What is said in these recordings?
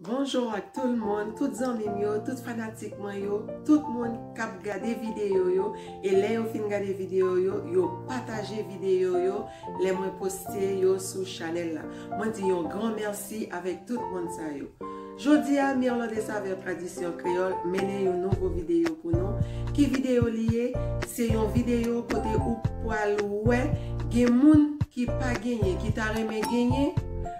Bonjour ak tout l moun, tout zanmi m yo, tout fanatik mwen yo, tout moun kap gade video yo e lè yo fin gade video yo, yo pataje video yo lè mwen poste yo sou chanèl la. Mwen di yon gran mèsi avèk tout moun sa yo. Jodi a Mirlot de Saveur Tradisyon Kreyòl mennen yon nouvo video pou nou. Ki video li ye? Se yon video kote ou pwal wè gen moun ki pa genyen ki ta renmen genyen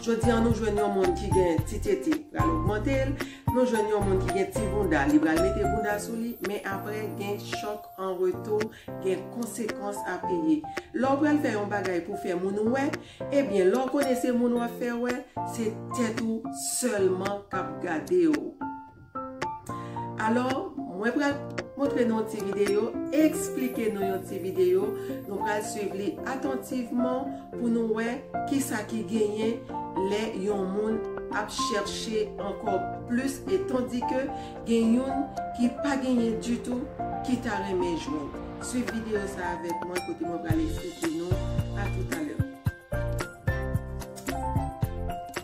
Jodi an nou jwenn yon moun ki gen ti tete pral ogmante l, nou jwenn yon moun ki gen ti bounda li pral mete bounda sou li, men aprè gen chòk an retou, gen konsekans a peye. Lè w pral fè yon bagay pou fè moun wè, ebyen lè w konnen se moun w ap fè wè, se tèt ou sèlman k ap gade w. Alò, mwen pral montre nou yon ti videyo, eksplike nou yon ti videyo, nou pral swiv li atantivman pou nou wè ki sa ki genyen lè yon moun ap chèche ankò plis e tandi ke gen youn ki pa genyen ditou ki ta renmen jwenn. Swiv videyo sa avèk mwen kote mwen pral eksplike nou. A toutalè.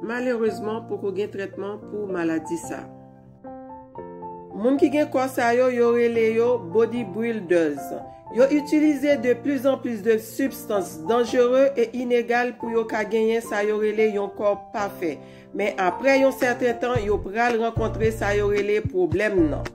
Malerezman poko gen trètman pou maladi sa. Moun ki gen kò sa yo, yo rele yo bodybuilders. Yo itilize de plis an plis de sibstans danjere e inegal pou yo ka genyen sa yo rele yon kò pafè. Men aprè yon sèten tan yo pral rankontre sa yo rele pwoblèm nan.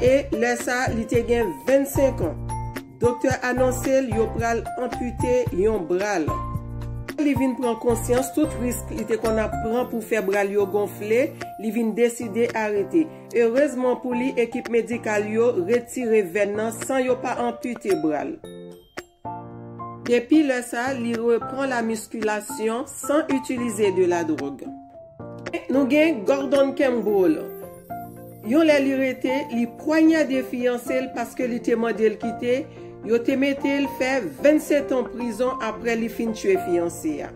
E lè sa li te gen 25 an. Doktè anonse l yo pral anpite yon bra l. Lè li vin pran konsyans tout risk li te konn ap pran pou fè bra l yo gonfle, li vin deside arete. Erezman pou li ekip medikal yo retire vèn nan san yo pa anpite bra l. Depi lè sa, li repran la miskilasyon san itilize de la dwòg. Nou gen Gordon Campbell, yon lè li rete, li pwanyade fiyanse l paske li te mande l kite, yo te mete l fè 27 an prizon aprè li fin tiye fiyanse a.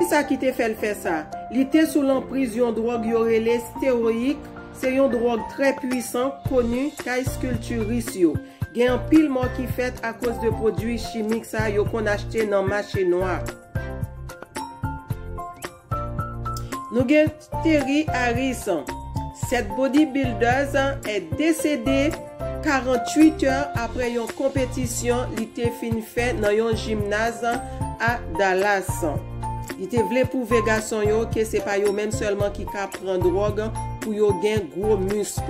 Ki sa ki te fè l fè sa? Li te sou lanpriz yon dwòg yo rele steroik, se yon dwòg trè pwisan koni kay kiltiris yo. Gen anpil mò ki fèt akoz de pwodui chimik sa yo konn achte nan mache nwa. Nou gen Terry Harris, 7 bodybuilders desede 48 è apre yon konpetisyon li te fin fè nan yon jimnaz a Dallas. Li te vle pwouve gason yo ke se pa yo menm sèlman ki ka pran dwòg pou yo gen gwo misk.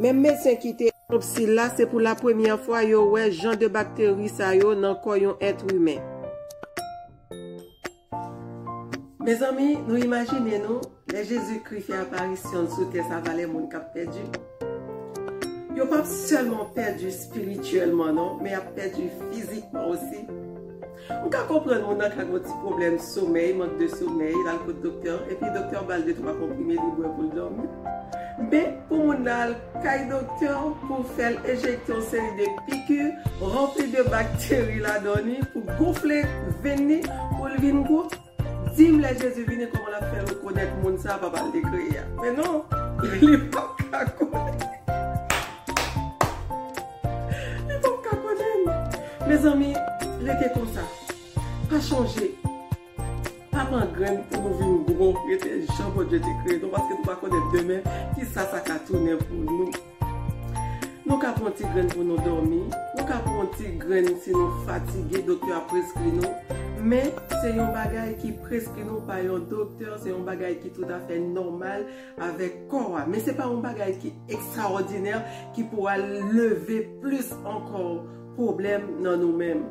Menm medsen ki te. Otopsi la, se pou la premyè fwa yo wè jan de bakteri sa yo nan kò yon èt imen. Mezanmi, nou imajine nou, lè Jezikri fè aparisyon l sou tè sa valè moun k ap pèdi. Yo p ap sèlman pèdi espirityèlman non, men y ap pèdi fizikman osi. Ou ka konprann moun nan ka gen yon ti pwoblèm somèy, mank de somèy, l al kot doktè an, epi doktè an ba l de twa konprime li bwè pou l dòmi. Men, pou moun nan al kay doktè an pou fè l enjekte yon seri de piki ranpli de bakteri ladan li pou gonfle venn li pou l vin gwo, Dim lè Jezi vini kòman lap fè rekonèt moun sa papal te kreye a men non li pap ka konnen li pap ka konnenl mezanmi rete konsa pa chanje pa pran grenn pou nou vin gwo rete jan Bondye te kreye nou paske nou pa konnen demen kisa sa ka tounen pou nou. Nou ka pran ti grenn pou nou dòmi, nou ka pran ti grenn si nou fatige doktè a preskri nou, men se yon bagay ki preskri nou pa yon doktè, se yon bagay ki toutafè nòmal avèk kò a. Men se pa yon bagay ki ekstraòdinè ki pou al leve plis ankò pwoblèm nan nou menm.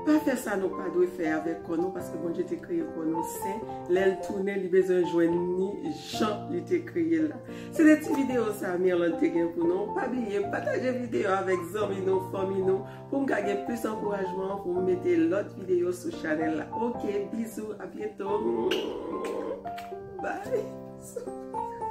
Pa fè sa nou pa dwe fè avèk kò nou paske Bondye te kreye kò nou sen, lè l tounen li bezwen jwenn ni jan li te kreye l la. Se te ti videyo sa Mirlande te gen pou nou, pa bliye pataje videyo avèk zanmi nou, fanmi nou pou m ka gen plis ankourajman pou m mete lòt videyo sou chanèl la ok bizou a byento.